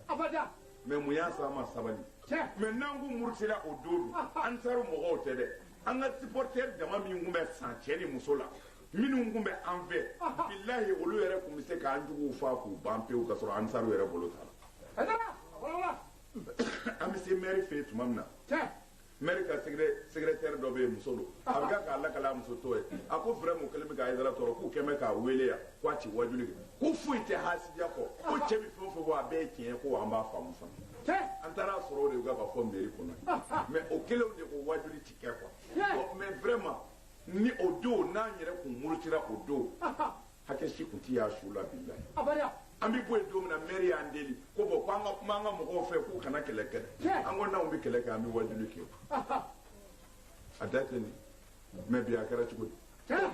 abada mɛ mun y'a sɔrɔ an ma sabali mɛ n'an kun murutira o don ah, ah. ansaru mɔgɔw tɛ dɛ an ka supporter dama min tun bɛ san cɛ ni muso la minnu tun bɛ an fɛ ah, bilahi olu yɛrɛ tun bɛ se k'an juguw fa k'u ban pewu ka sɔrɔ ansaru yɛrɛ bolo t'a la an bɛ se mɛri fɛ yen tuma min na mɛri ka sɛgɛrɛtɛri dɔ bɛ yen muso don a bɛ k'a lakali a muso tɔ ye a ko vraiment o kɛlen bɛ k'a yɛrɛ tɔɔrɔ k'u kɛmɛ k'a weele yan ko a ti wajuli kɛ ko foyi tɛ hasidiya kɔ ko cɛ bɛ fɛn o fɛn fɔ a bɛɛ ye tiɲɛ ye ko an b'a faamu fana an taara a sɔrɔ o de bɛ ka fɔ mɛri kɔnɔ mɛ o kelenw de ko wajuli ti kɛ quoi mɛ vraiment ni o don n'an yɛrɛ kun murutira o don hakɛ si tun tɛ y'a su la bi la abada an bɛ bɔ yen don min na mɛri y'an deli ko bɔn ko an ka kuma an ka mɔgɔw fɛ k'u kana kɛlɛ kɛ dɛ an ko n'anw bɛ kɛlɛ kɛ an bɛ wajuli kɛ a da tɛ nin mɛ bi a kɛra cogo di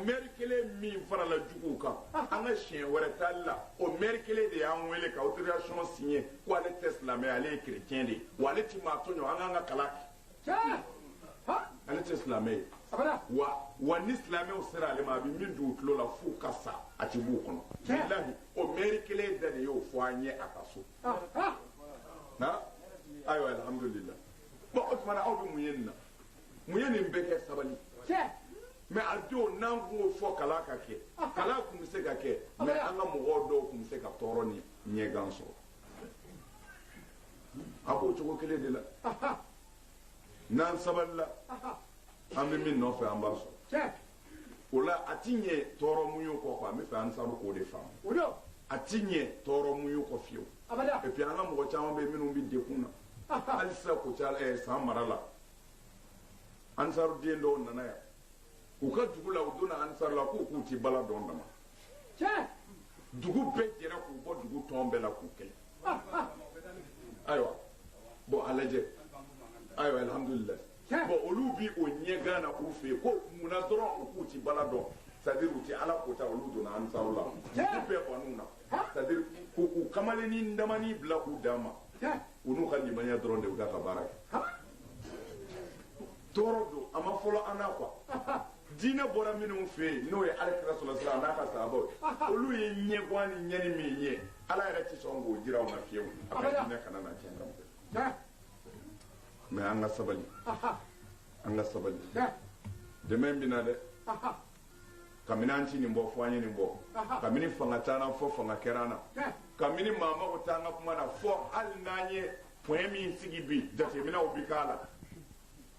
mɛri kelen min farala juguw kan an ka siɲɛ wɛrɛ taali la o mɛri kelen de y'an wele ka autorisation signé ko ale tɛ silamɛ ale ye chrétien de ye wa ale ti maa tɔɲɔ an k'an ka kalan ale tɛ silamɛ ye wa wa ni silamɛw sera ale ma a bɛ min don u tulo la f'u ka sa a ti b'u kɔnɔ bilahi o mɛri kelen da de y'o fɔ an ye a ka so na ayiwa alhamdulilah bon o tuma na aw bɛ mun ye nin na mun ye nin bɛɛ kɛ sabali mɛ a don n'an tun y'o fɔ kalan ka kɛ kalan tun bɛ se ka kɛ mɛ an ka mɔgɔw dɔw tun bɛ se ka tɔɔrɔ ni ɲɛgan sɔrɔ a b'o cogo kelen de la n'an sabalila an bɛ min nɔfɛ an b'a sɔrɔ o la a ti ɲɛ tɔɔrɔ muɲu kɔ quoi n b'a fɛ ansaru k'o de faamu a ti ɲɛ tɔɔrɔ muɲu kɔ fiyewu et puis an ka mɔgɔ caman bɛ yen minnu bɛ degun na hali sisan ko ca ɛɛ san mara la ansaruden dɔw nana yan u ka dugu la u donna ansar la k'u k'u ti bala dɔn dama dugu bɛɛ jɛra k'u bɔ dugu tɔn bɛɛ la k'u kɛlɛ ayiwa bɔn a lajɛ ayiwa alhamdulila bɔn olu bi o ɲɛgan na k'u fɛ yen ko mun na dɔrɔn u k'u ti bala dɔn c'est-à-dire u ti ala kota olu donna ansaru la u bɛɛ ban'u na c'est-à-dire k'u k'u kamalennin damanin bila k'u dama u n'u ka limaniya dɔrɔn de u ka ka baara kɛ tɔɔrɔ don a ma fɔlɔ an na quoi diinɛ bɔra minnu fɛ yen n'o ye alakira sɔrɔsira n'a ka sahabaw olu ye ɲɛgan ni ɲɛni min ye ala yɛrɛ ti sɔn k'o jira u ma fiyewu a ka diinɛ kana na tiɲɛ kan fɛ mɛ an ka sabali an ka sabali dɛmɛ in bɛna dɛ kabini an ti nin bɔ fo an ye nin bɔ kabini fanga t'an fo fanga kɛra an na kabini maa mago t'an ka kuma na fo hali n'an ye pɔn min sigi bi jateminɛw bi k'a la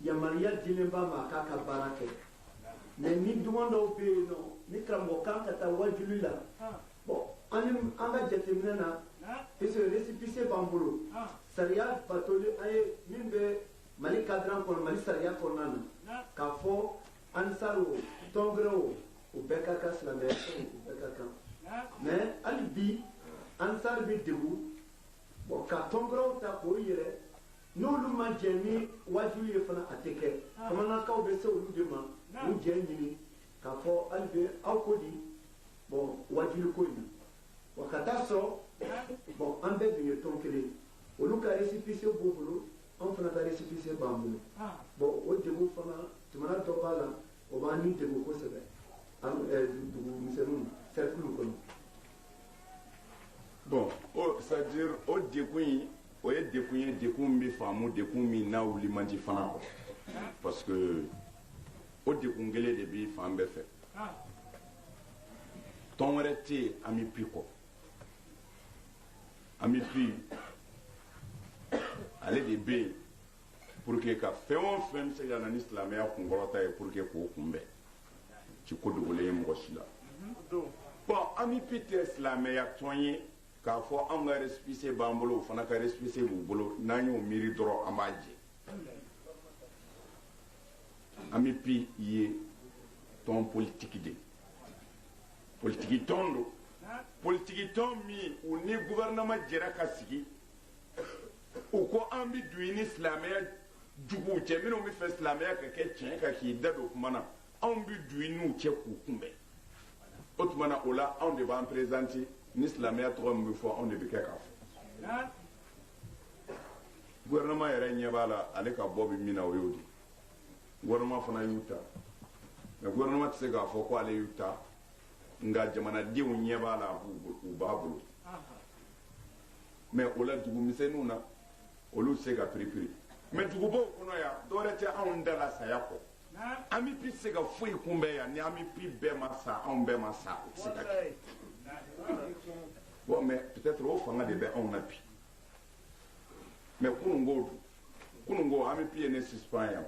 yamaruya dilen b'a ma a k'a ka baara kɛ mɛ ni duman dɔw bɛ yen nɔ ni karamɔgɔ kan ka taa wajuli la bɔn an ni an ka jateminɛ na puisque récépissé b'an bolo sariya batoli an ye min bɛ mali kadiri kɔnɔ mali sariya kɔnɔna na k'a fɔ ansar o tɔn gɛrɛ o u bɛɛ ka kan silamɛya fɛn u bɛɛ ka kan mɛ hali bi ansar bɛ degun bɔn ka tɔn gɛrɛw ta k'o yɛrɛ n'olu ma jɛn ni wajuli ye fana a tɛ kɛ bamanankaw bɛ se olu de ma u jɛn ɲini k'a fɔ hali bɛ aw ko di bɔn wajuli ko in na wa ka taa sɔrɔ bɔn an bɛɛ dun ye tɔn kelen olu ka resipise b'u bolo an fana ka resipise b'an bolo bɔn o degun fana jamana dɔ b'a la o b'an degun kosɛbɛ dugu misɛnninw sɛrikili kɔnɔ bɔn o c'est à dire o degun in o ye degun ye degun min bɛ faamu degun min n'a wuli man di fana kɔ parce que o degun kelen de bɛ fan bɛɛ fɛ tɔn wɛrɛ tɛ yen AMUPI kɔ AMUPI ale de bɛ yen pour que ka fɛn o fɛn bɛ se ka na ni silamɛya kunkɔrɔta ye pour que k'o kunbɛn ci ko dogolen ye mɔgɔ si la bɔn AMUPI tɛ silamɛya tɔn ye. k'a fɔ anw ka resipise b'an bolo u fana ka resipise b'u bolo n'an y'o miiri dɔrɔn an b'a jɛ AMUPI ye tɔn politiki de politiki tɔn don politiki tɔn min u ni guvɛrɛnama jɛra ka sigi u ko an bɛ don i ni silamɛya juguw cɛ minnu b'a fɛ silamɛya ka kɛ tiɲɛ ka k'i da don kuma na anw bɛ don i n'u cɛ k'u kunbɛn o tuma na o la anw de b'an perezanti ni silamɛya tɔgɔ min bɛ fɔ anw de bɛ kɛ k'a fɔ gouvernement yɛrɛ ɲɛ b'a la ale ka bɔ bɛ min na o y'o de ye gouvernement fana y'u ta mɛ gouvernement tɛ se k'a fɔ ko ale y'u ta nka jamanadenw ɲɛ b'a la u b'a bolo mɛ o la dugu misɛnninw na olu tɛ se ka piripiri mɛ dugubaw kɔnɔ yan dɔwɛrɛ tɛ anw da la saya kɔ AMUPI se ka foyi kunbɛn yan ni AMUPI bɛɛ ma sa anw bɛɛ ma sa o tɛ se ka kɛ bon mais peut-être o fanga de bɛ anw na bi mais kunun ko dun kunun ko AMUPI ye ne suspend yan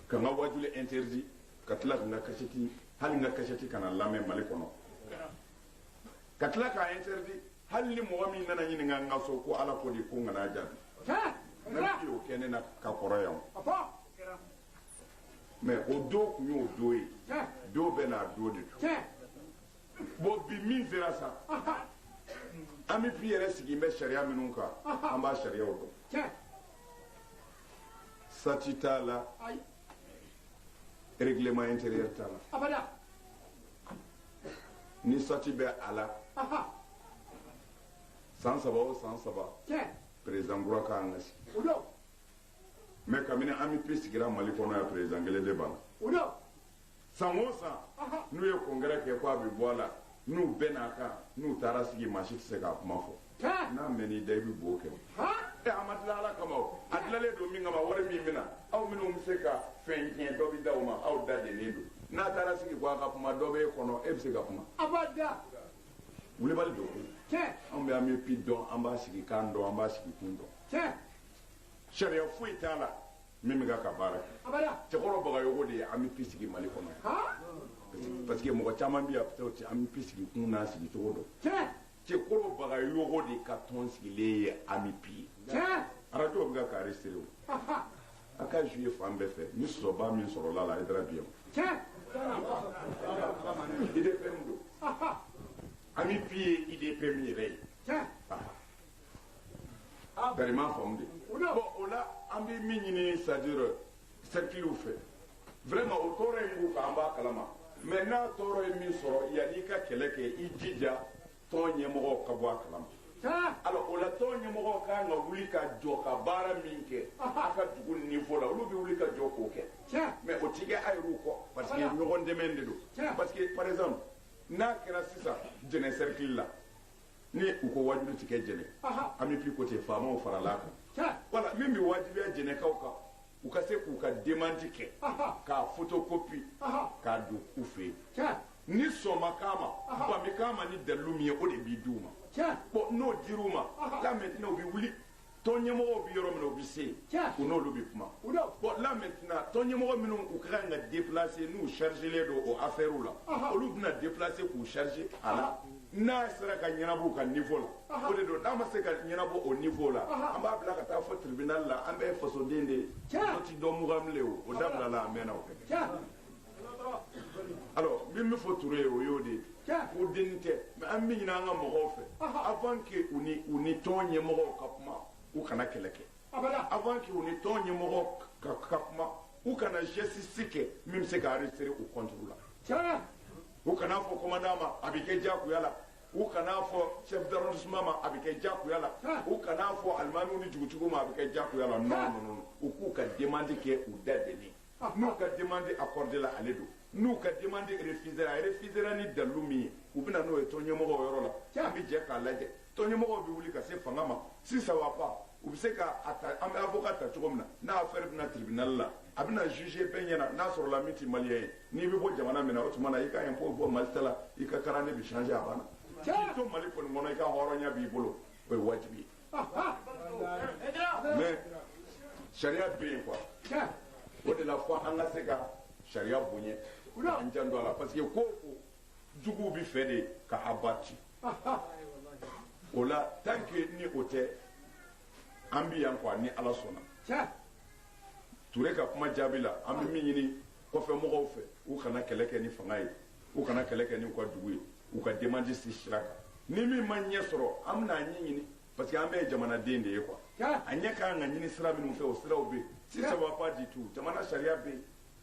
ka n ka wajuli interdit ka tila ka n ka kasɛti hali n ka kasɛti kana lamɛn mali kɔnɔ ka tila k'a interdit hali ni mɔgɔ min nana ɲininka n ka so ko ala ko di ko n kana jaabi ne bɛ o kɛ ne na ka kɔrɔ yan mais o don tun y'o don ye don bɛɛ n'a don de don bon bi min sera sa amipi yɛrɛ sigilen bɛ sariya minnu kan an b'a sariyaw dɔn sati t'a la règlement intérieur t'a la ni sati bɛ a la san saba o san saba président kura ka kan ka sigi mais kabini amipi sigira mali kɔnɔ yan président kelen de b'a la san o san n'u ye congrès kɛ ko a bɛ bɔ a la n'u bɛnn'a kan n'u taara sigi maa si tɛ se k'a kuma fɔ n'a mɛn i da i bɛ bo kɛ e a ma dilan ala kama a dilanlen don min kama wari min bɛ na aw minnu bɛ se ka fɛn tiɲɛ dɔ bɛ da o ma aw da dennen don n'a taara sigi ko a ka kuma dɔ bɛ e kɔnɔ e bɛ se ka kuma a b'a da wulibali don koyi anw bɛ amipi dɔn an b'a sigi kan dɔn an b'a sigi kun dɔn sariya foyi t'a la min bɛ ka ka baara kɛ cɛkɔrɔ bagayogo de ye amipi sigi mali kɔnɔ parce que mɔgɔ caman bɛ yan amipi sigi kun n'a sigi cogo dɔn cɛkɔrɔ bagayogo de ka tɔn sigilen ye amipi ye arajo bɛ ka kare sere o a ka ju ye fan bɛɛ fɛ ni sɔrɔba min sɔrɔla la a ye dara biyan udpm don amipi ye udpm yɛrɛ ye bɛrɛma faamu de o la an bɛ min ɲini c'est-à-dire cerclew fɛ vraiment o tɔɔrɔ in b'u kan an b'a kalama mais n'a tɔɔrɔ ye min sɔrɔ yan'i ka kɛlɛ kɛ i jija tɔn ɲɛmɔgɔw ka bɔ a kalama alors o la tɔn ɲɛmɔgɔw ka kan ka wuli ka jɔ ka baara min kɛ a ka dugu niveau la olu bɛ wuli ka jɔ k'o kɛ mais o ti kɛ a yɛrɛw kɔ parce que ɲɔgɔn dɛmɛ de don parce que par exemple n'a kɛra sisan jɛnɛ cercle la ni u ko wajibi ti kɛ jɛnɛ amipi ko ten faamaw farala kan voilà min bɛ wajibiya jɛnɛkaw kan u ka se k'u ka demande kɛ k'a fotokopi k'a don u fɛ yen ni sɔnma k'a ma bami k'a ma ni dalilu min ye o de bɛ di u ma bon n'o dira u ma là maintenant u bɛ wuli tɔn ɲɛmɔgɔ bɛ yɔrɔ min u bɛ se yen u n'olu bɛ kuma bon là maintenant tɔn ɲɛmɔgɔ minnu u ka kan ka déplacer n'u chargélen don o affairew la olu bɛna déplacer k'u charger a la n'a sera ka ɲɛnabɔ ka niveau la o de don n'a ma se ka ɲɛnabɔ o niveau la an b'a bila ka taa fo tribunal la an bɛɛ fasoden de ye o ti dɔn mugan bilen o o dabilala a mɛnna o kɛ alors min bɛ fɔ ture ye o y'o de ye ko denni tɛ mais an b'a ɲini an ka mɔgɔw fɛ avant que u ni u ni tɔn ɲɛmɔgɔw ka kuma u kana kɛlɛ kɛ avant que u ni tɔn ɲɛmɔgɔw ka kuma u kana geste kɛ min bɛ se ka arrêter u contre la u kana fɔ commandant ma a bɛ kɛ diyagoya la u kana fɔ chef d'arrondissement ma a bɛ kɛ diyagoya la u kana fɔ alimamiw ni dugutigiw ma a bɛ kɛ diyagoya la non ninnu u k'u ka demande kɛ u da deni n'u ka demande accordée la ale don n'u ka demande refusera a refusera ni dalilu min ye u bɛ na n'o ye tɔnɲɛmɔgɔw yɔrɔ la an bɛ jɛ k'a lajɛ tɔnɲɛmɔgɔw bɛ wuli ka se fanga ma sisan wa pa u bɛ se ka an bɛ avocat ta cogo min na n'a affaire bɛ na tribunal la a bɛna juger bɛɛ ɲɛna n'a sɔrɔla min tɛ maliyɛn ye n'i bɛ bɔ jamana min na o tuma na i ka impôt bɔ mali ta la i ka carnet bɛ changer a banna n'i to mali kɔni kɔnɔ i ka hɔrɔnya b'i bolo o ye wajibi ye mais sariya bɛ yen quoi o de la fo an ka se ka sariya bonya an jan to a la parce que ko o ko juguw b'a fɛ de ka a bati o la tan ke ni o tɛ an bɛ yan quoi ni ala sɔnna ture ka kuma jaabi la an bɛ min ɲini kɔfɛ mɔgɔw fɛ u kana kɛlɛ kɛ ni fanga ye u kana kɛlɛ kɛ ni u ka dugu ye u ka demande si sira kan ni min ma ɲɛ sɔrɔ an bɛna a ɲɛ ɲini parce que an bɛɛ ye jamanaden de ye quoi a ɲɛ ka kan ka ɲini sira minnu fɛ o siraw bɛ yen si ça va pas du tout jamana sariya bɛ yen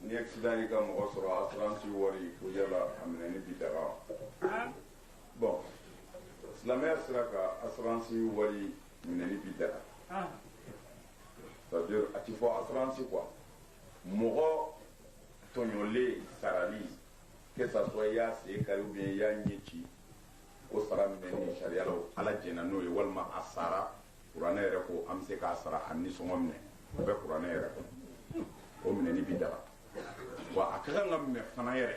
Ni accident y'i ka mɔgɔ sɔrɔ assurance wari ko yala a minɛni bi daga bɔn silamɛya sira kan assurance wari minɛni bi daga ça veut dire a tɛ fɔ assurance quoi mɔgɔ tɔɲɔlen sarali que ça soit i y'a sen kari ou bien i y'a ɲɛ ci o sara minɛni sariya la ala jɛnna n'o ye walima a sara kuranɛ yɛrɛ ko an bɛ se k'a sara a nisɔngɔ minɛ o bɛ kuranɛ yɛrɛ kɔnɔ o minɛni bi daga wa a ka kan ka minɛ fana yɛrɛ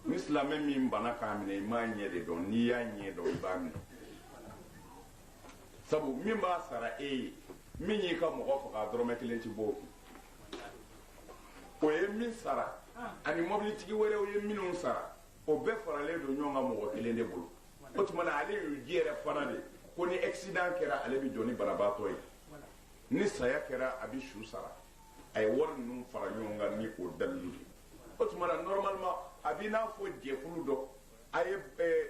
ni silamɛ min bana k'a minɛ i m'a ɲɛ de dɔn n'i y'a ɲɛ dɔn i b'a minɛ sabu min b'a sara e ye min y'i ka mɔgɔ faga dɔrɔmɛ kelen ti bɔ o kun o ye min sara ani mɔbilitigi wɛrɛw ye minnu sara o bɛɛ faralen don ɲɔgɔn kan mɔgɔ kelen de bolo o tuma na ale y'u ji yɛrɛ fana de ko ni accident kɛra ale bɛ jɔ ni banabaatɔ ye ni saya kɛra a bɛ su sara a ye wari ninnu fara ɲɔgɔn kan ni o dalilu de o tuma na normalement a b'i n'a fɔ jɛkulu dɔ a ye eh,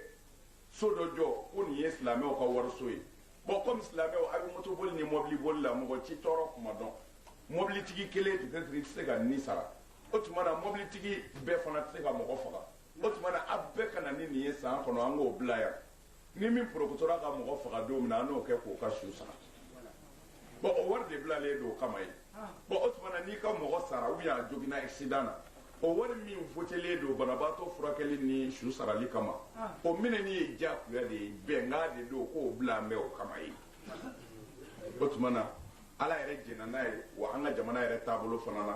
so dɔ jɔ ko nin ye silamɛw ka wariso ye bɔn kɔmi silamɛw a bɛ motoboli ni mɔbiliboli la mɔgɔ t'i tɔɔrɔ tuma dɔn mɔbilitigi kelen tɛ se ka ni sara o tuma na mɔbilitigi bɛɛ fana tɛ se ka mɔgɔ faga o tuma na a bɛɛ ka na ni nin ye san kɔnɔ an k'o bila yan ni min porokotora ka mɔgɔ faga don min na an n'o kɛ k'o ka su sara bɔn o wari de bilalen don o kama ye bɔn o tuma na n'i ka mɔgɔ sara ou bien a joginna accident na o wari min votelen don banabaatɔ furakɛli ni su sarali kama o minɛni ye diyagoya de ye bɛnkan de don k'o bila an bɛ o kama ye o tuma na ala yɛrɛ jɛnna n'a ye wa an ka jamana yɛrɛ taabolo fana na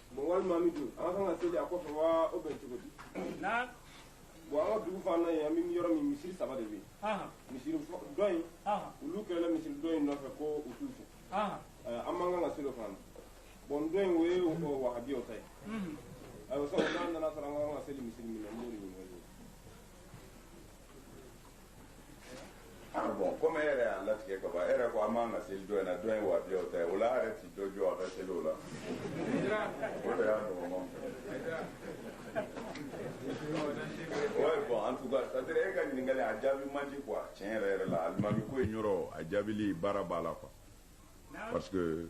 bon walima an bɛ don an ka kan ka seli a kɔfɛ wa o bɛn cogo di na bon an ka dugu fan na yen an bɛ yɔrɔ min misiri saba de bɛ yen ahan misiri fɔ- dɔ in ahan olu kɛlɛla misiri dɔ in nɔfɛ ko u t'u fɛ ahan Eh, an man kan ka seli o fana na bon dɔ in o ye o wahabiyaw ta ye mhm ayiwa sabu n'an nana sɔrɔ an ka kan ka seli misiri min na n b'o de ɲininka Ah, bon comme e yɛrɛ y'a latigɛ ka ban e yɛrɛ ko an man kan ka seli dɔ in na dɔ in wahabiyaw ta ye o la a yɛrɛ ti dɔ jɔ a ka seli o la o de y'a nɔgɔman ouais bon en tout cas c'est à dire e ka ɲininkali a jaabi man di quoi tiɲɛ yɛrɛ yɛrɛ la alimami ko in yɔrɔ a jaabili baara b'a la quoi parce que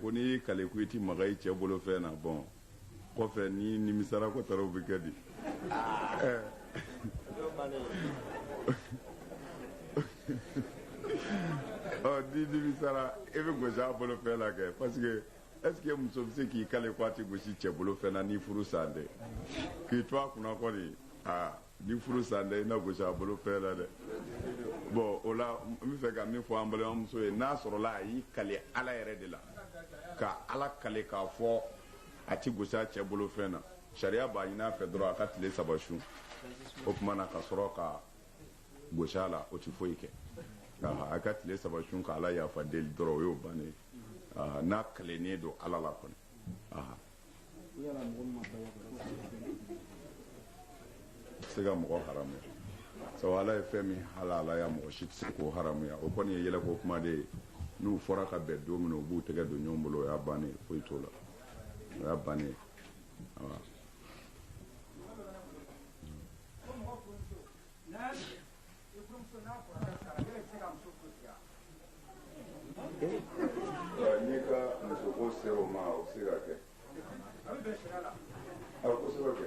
ko n'i kale ko i tɛ maga i cɛ bolo fɛn na bon kɔfɛ n'i nimisara ko taara u bɛ kɛ di ɔ n'i nimisara e bɛ gosi a bolo fɛn la kɛ parce que est-ce que muso bɛ se k'i kale ko a tɛ gosi cɛ bolo fɛn na ni furusa tɛ k'i to a kunna kɔni aa ni furusa tɛ i na gosi a bolo fɛn la dɛ bon o la n bɛ fɛ ka min fɔ an balimamuso ye n'a sɔrɔla a y'i kale ala yɛrɛ de la ka ala kale k'a fɔ a tɛ gosi a cɛ bolo fɛn na sariya b'a ɲin'a fɛ dɔrɔn a ka tile saba sun o tuma na ka sɔrɔ ka gos'a la o tɛ foyi kɛ a ka tile saba sun ka ala yafa deli dɔrɔn o y'o bannen n'a kalennen don ala la kɔni se ka mɔgɔ haramu sabu ala ye fɛn min halalaya mɔgɔ si tɛ se k'o haramuya o kɔni ye yɛlɛko kuma de ye n'u fora ka bɛn don min u b'u tɛgɛ don ɲɔgɔn bolo o y'a bannen foyi t'o la o y'a bannen n'i ka musoko se o ma o bɛ se ka kɛ a bɛ kosɛbɛ kɛ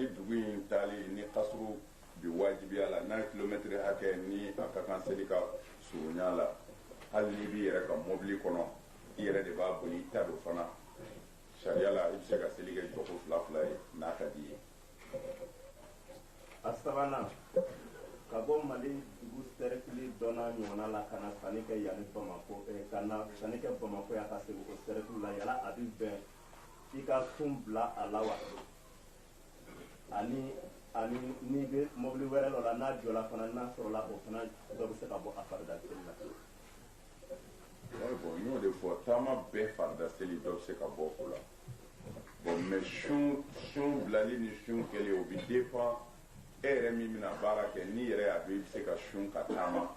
ni dugu in taali ni kasuru bi wajibiya la n'a ye kilomɛtiri hakɛ ni a ka kan seli ka surunya la hali n'i b'i yɛrɛ ka mɔbili kɔnɔ i yɛrɛ de b'a boli i ta don fana sariya la i bɛ se ka seli kɛ jɔko fila fila ye n'a ka d'i ye a sabanan ka bɔ mali dugu sɛrɛkili dɔnna ɲɔgɔnna la ka na sanni kɛ yanni bamako eh, ka na sanni kɛ bamako yan ka segin o sɛrɛkili la yala a bɛ bɛn i ka sun bila a la wa ani ani n'i bɛ mɔbili wɛrɛ dɔ la n'a jɔla fana n'a sɔrɔla o fana dɔ bɛ se ka bɔ a farida seli la bɔn n y'o de fɔ taama bɛɛ farida seli dɔ bɛ se ka bɔ o la bɔn mɛ sun sun bilali ni sun kɛli o bɛ dépend e yɛrɛ min bɛna baara kɛ n'i yɛrɛ y'a dɔn i bɛ se ka sun ka taama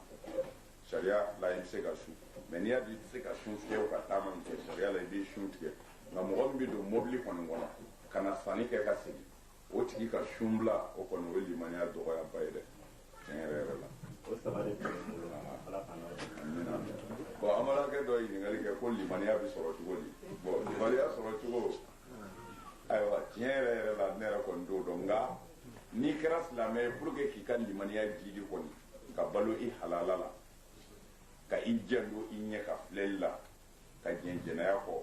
sariya la i tɛ se ka sun mɛ n'i y'a dɔn i tɛ se ka sun tigɛ ka taama min kɛ sariya la i b'i sun tigɛ nka mɔgɔ min bɛ don mobili kɔni kɔnɔ ka na sanni kɛ ka segin o tigi ka sun bila o kɔni o ye limaniya dɔgɔyaba ye dɛ tiɲɛ yɛrɛ yɛrɛ la. o saba de tun bɛ bolo la ala k'a nɔgɔya. amina bɔn amarakɛ dɔ ye ɲininkali kɛ ko limaniya bɛ sɔrɔ cogo di bɔn limaniya sɔrɔ cogo ayiwa tiɲɛ yɛrɛ yɛrɛ la ne yɛrɛ kɔni t'o dɔn nka n'i kɛra silamɛ ye pour que k'i ka limaniya jidi kɔni ka balo i halala la ka i janto i ɲɛ ka filɛli la ka jɛn jɛnɛya kɔ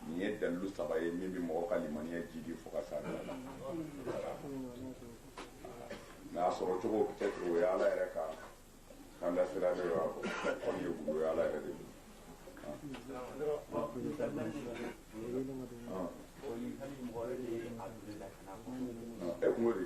nin ye dalilu saba ye min bɛ mɔgɔ ka limaniya jidi fo ka s'a dan na mɛ a sɔrɔ cogo peut-être o ye ala yɛrɛ ka kandasira de y'a fɔ kɔni ye gundo ye ala yɛrɛ de e kungo de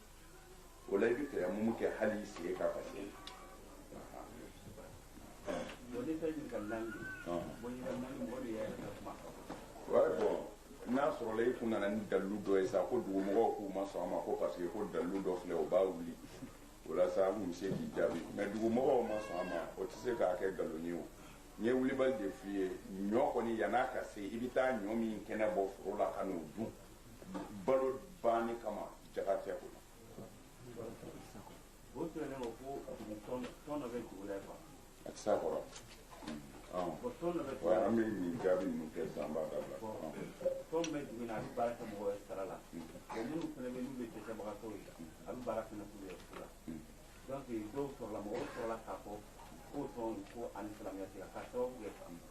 o la i bɛ tayamumu kɛ hali i sen ka kasi n'a sɔrɔla i kun nana ni dalilu dɔ ye sa ko dugumɔgɔw k'u ma sɔn a ma ko parce que ko dalilu dɔ filɛ o b'a wuli o la sa an kun bɛ se k'i jaabi mɛ dugumɔgɔw ma sɔn a ma o tɛ se k'a kɛ nkalon ye o n ye wulibali de f'i ye ɲɔ kɔni yann'a ka se i bɛ taa ɲɔ min kɛnɛ bɔ foro la ka n'o dun balo banni kama jakatigɛ ko la o tun ne ko ko tɔn dɔ bɛ dugu la quoi a tɛ se a kɔrɔ bɔn tɔn dɔ bɛ dugu la an bɛ nin jaabi ninnu kɛ san b'a dabila tɔn bɛ dugu in na a bɛ baara kɛ mɔgɔ ye sara la bɔn minnu fana bɛ n'u bɛ dɛsɛbagatɔw ye a bɛ baara fana k'u ye fu la donc dɔw sɔrɔla mɔgɔw sɔrɔla k'a fɔ k'o tɔn ko ani silamɛya tɛ ka sababu kɛ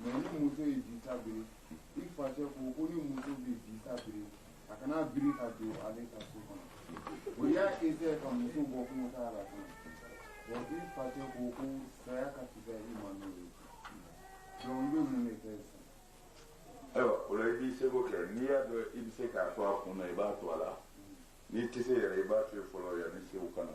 mɛ ni muso ye disa biri i facɛ ko ko ni muso bɛ disa biri a kana biri ka don ale ka so kɔnɔ o y'a esɛyɛ ka muso bɔ kungotaa la fana wa i facɛ ko ko saya ka fisa i ma n'o ye donc i bɛ mun de kɛ sisan ayiwa o la i b'i seko kɛ n'i y'a dɔn i bɛ se k'a to a kun na i b'a to a la n'i tɛ se yɛrɛ i b'a to yen fɔlɔ yanni sew ka na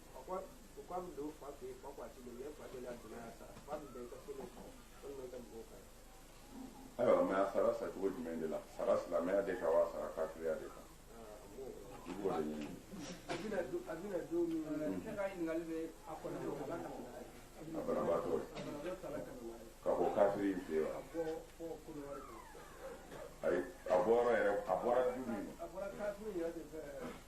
ayiwa mɛ a sara sacogo jumɛn de la sara silamɛya de kan wa sara kafiriya de kan i b'o de ɲini a banabaatɔ ka bɔ kafiri in fɛ yen wa ayi a bɔra yɛrɛ a bɔra du min na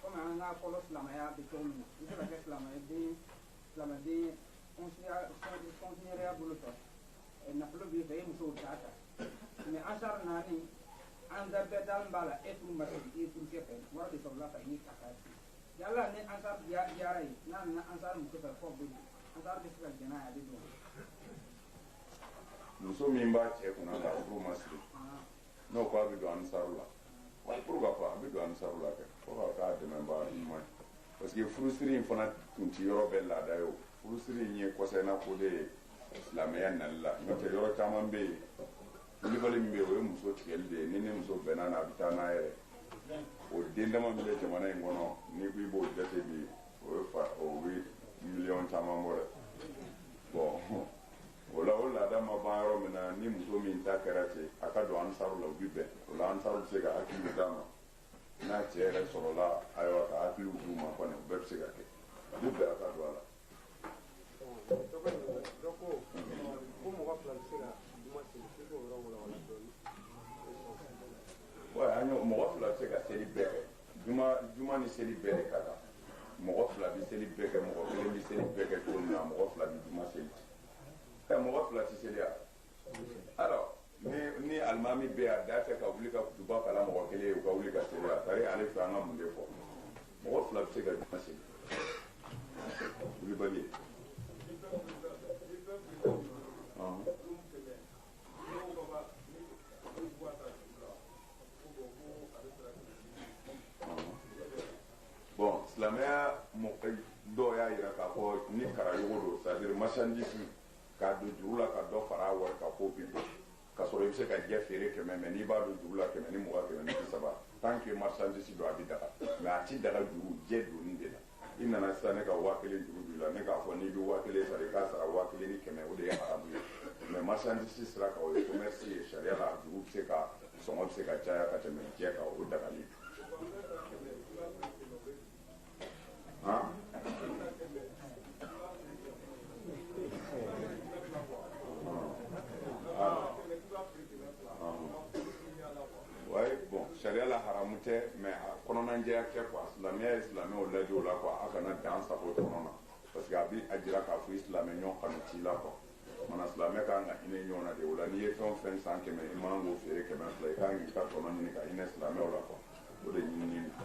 kɔmi an ka fɔlɔ silamɛya bɛ cogo min na i bɛ ka kɛ silamɛden silamɛden kɔnsiɲɛrɛya bolo fɛ nafolo b'i fɛ i musow t'a ta mɛ ansar na ni ansar bɛɛ dalen b'a la e furu ma siri i furukɛ fɛ wari de sɔrɔla ka ɲini ka k'a fɛ yala ni ansar diyara a ye n'a nana ansar muso fɛ fɔ bɛ don ansar bɛ se ka jɛn n'a ye a bɛ don muso min b'a cɛ kunna k'a furu ma siri n'o ko a bɛ don ansaru la pourquoi pas a bɛ don ansaru la kɛ fo ka k'a dɛmɛbaa ɲuman ye parce que furusiri in fana tun ti yɔrɔ bɛɛ laada ye o furusiri in ye kɔsa in na ko de ye silamɛya nali la n'o tɛ yɔrɔ caman bɛ yen wulibali min bɛ yen o ye muso tigɛli de ye ni ni muso bɛnna na a bɛ taa n'a yɛrɛ o den dama min bɛ jamana in kɔnɔ n'i ko i b'o jate bi o ye fa o bɛ miliyɔn caman bɔ dɛ bɔn o la o laada ma ban yɔrɔ min na ni muso min ta kɛra ten a ka don ansaru la o bi bɛn o la ansaru bɛ se ka hakiliw d'a ma n'a cɛ yɛrɛ sɔrɔla ayiwa ka hakiliw d'u ma kɔni o bɛɛ bɛ se ka kɛ a bɛ bɛn a ka don a la. dɔ ko ko mɔgɔ fila bɛ se ka juma seli k'i k'o yɔrɔ walawala dɔɔni. wa an y'o mɔgɔ fila bɛ se ka seli bɛɛ kɛ. juma juma ni seli bɛɛ de ka kan mɔgɔ fila bɛ seli bɛɛ kɛ mɔgɔ kelen bɛ seli bɛɛ kɛ cogo min na mɔgɔ fila bɛ juma seli ɛ mɔgɔ fila tɛ seli a alors ni ni alimami bɛ a da fɛ ka wuli ka kutuba kalan mɔgɔ kelen ye u ka wuli ka seli a tari ale fɛ an ka mun de fɔ mɔgɔ fila bɛ se ka juma seli wulibali ye. Ɔhɔn. bɔn silamɛya mɔgɔ dɔw y'a jira k'a fɔ ni karayogo don c'est à dire marchandise k'a don juru la ka dɔ fara a wari kan k'o bi don ka sɔrɔ i bɛ se ka jɛ feere kɛmɛ mɛ n'i b'a don juru la kɛmɛ ni mugan kɛmɛ ni bi saba tant que marchandise don a bɛ daga mɛ a ti daga juru jɛ donni de la i nana sisan ne ka waa kelen juru b'i la ne k'a fɔ n'i bɛ waa kelen sara i k'a sara waa kelen ni kɛmɛ o de ye haramu ye mɛ marchandise sira kan o ye commerce ye sariya la juru bɛ se ka sɔngɔ bɛ se ka caya ka tɛmɛ jɛ kan o dagalen ayi bɔn sariya la haramu tɛ mɛ a kɔnɔnajɛya kɛ kuwa silamɛya ye silamɛw laadi o la kuwa a kana dan sagon tɔnɔ na parce que a bi a jira k'a fɔ i silamɛ ɲɔgɔn kanu t'i la kuwa mana silamɛ ka kan ka hinɛ ɲɔgɔn na de o la n'i ye fɛn o fɛn san kɛmɛ i man k'o feere kɛmɛ fila i ka kan k'i ka tɔnɔ ɲini ka hinɛ silamɛw la kuwa o de ɲinini na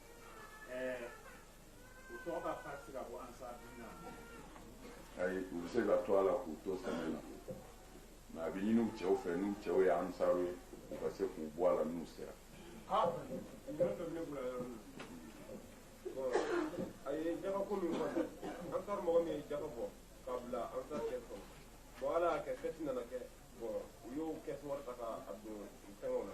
ayi u bɛ se ka to a la k'u to sɛnɛ na mɛ a bɛ ɲini u cɛw fɛ n'u cɛw ye ansaru ye u ka se k'u bɔ a la n'u sera a ye jaka ko min fɔ ansaru mɔgɔ min ye jaka bɔ k'a bila ansaru kɛsu kɔnɔ bɔn ala y'a kɛ fɛti nana kɛ bɔn u y'o kɛsu wari ta k'a don fɛngɛw na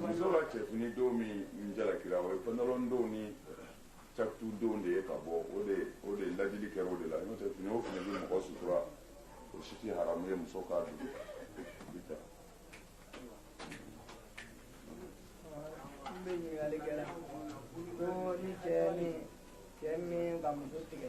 muso ka cɛfini don min jalakira o ye pantalon don ni catu don de ye ka bɔ o de o de laadili kɛra o de la n'o tɛ fini o fini bɛ mɔgɔ sutura o si tɛ haramu ye muso k'a don bi ta n bɛ ɲininkali kɛra ko ni cɛ min cɛ min ka muso tigɛ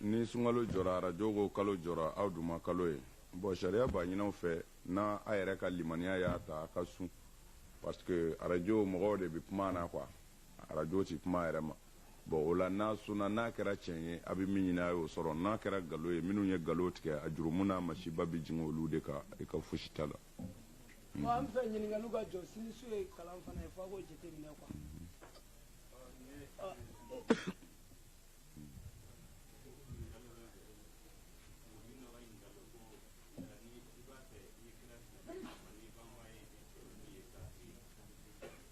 ni sunkalo jɔra arajo ko kalo jɔra aw dun ma kalo ye bɔn sariya b'a ɲini aw fɛ n'a a yɛrɛ ka limaniya y'a ta a ka sun parce que arajo mɔgɔw de bɛ kuma na kuwa arajo tɛ kuma a yɛrɛ ma bɔn o la n'a sunna n'a kɛra tiɲɛ ye a bɛ min ɲini a y'o sɔrɔ n'a kɛra nkalon ye minnu ye nkalon tigɛ a jurumu n'a masiba bɛ jigin olu de kan i ka fosi t'a la. bon an fɛ ɲininkaliw ka jɔ sinisu ye kalan fana ye f'a k'o jateminɛ quoi.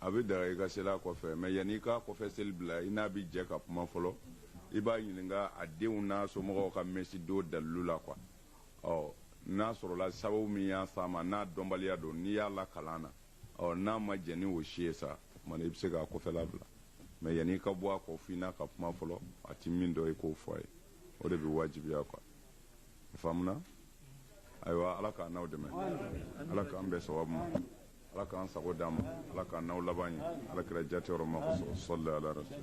a bɛ daga i ka seli a kɔfɛ mɛ yanni i k'a kɔfɛ seli bila i n'a bɛ jɛ ka kuma fɔlɔ i b'a ɲininka a denw n'a somɔgɔw ka mɛsidon dalilu la kuwa ɔ n'a sɔrɔla sababu min y'a s'a ma n'a dɔnbaliya don n'i y'a lakalan na ɔ n'a ma jɛn ni o si ye sa o tuma na i bɛ se k'a kɔfɛla bila mɛ yanni i ka bɔ a kɔ f'i n'a ka kuma fɔlɔ a ti min dɔn i k'o fɔ a ye o de bɛ wajibiya kuwa i faamuna ayiwa ala k'an n'aw dɛmɛ ala k'an bɛɛ sababu ma ala k'an sago d'an ma ala k'an n'aw laban ɲɛ ala kira jate yɔrɔ ma kosɔn sɔli ala rasul